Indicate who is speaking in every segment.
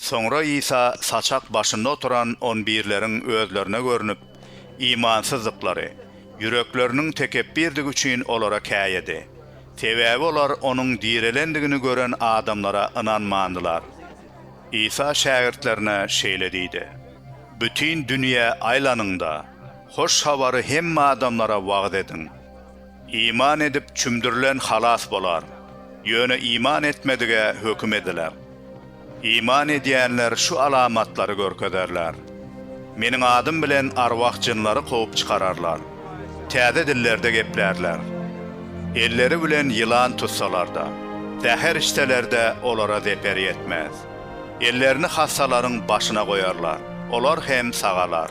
Speaker 1: Soňra Isa saçak başynda oturan on birleriň özlerine görnüp, imansyzdyklary, ýürekleriniň tekepbirdigi üçin olara käýedi. Sebäbi olar Onuň direlendigini gören adamlara ynanmandylar. Isa şägirtlerine şeýle diýdi. Bütin dünýä aýlanyň-da, Hoş Habary hemme adamlara wagyz ediň. Iman edip çümdürilen halas bolar, ýöne iman etmedige höküm ediler. Iman edýänler şu alamatlary görkezerler, Meniň adym bilen arwah-jynlary kowup çykararlar, täze dillerde geplärler, elleri bilen ýylan tutsalar-da, zäher içseler-de olara zeper ýetmez, ellerini hassalaryň başyna goýarlar, olar hem sagalar.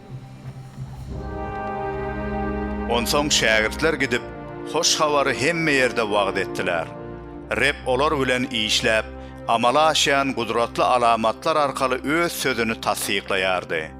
Speaker 1: Onsoň şägirtler gidip, hoş habary hemme ýerde wagyz etdiler. Reb olar bilen işläp, amala aşýan gudratly alamatlar arkaly Öz Sözüni tassyklaýardy.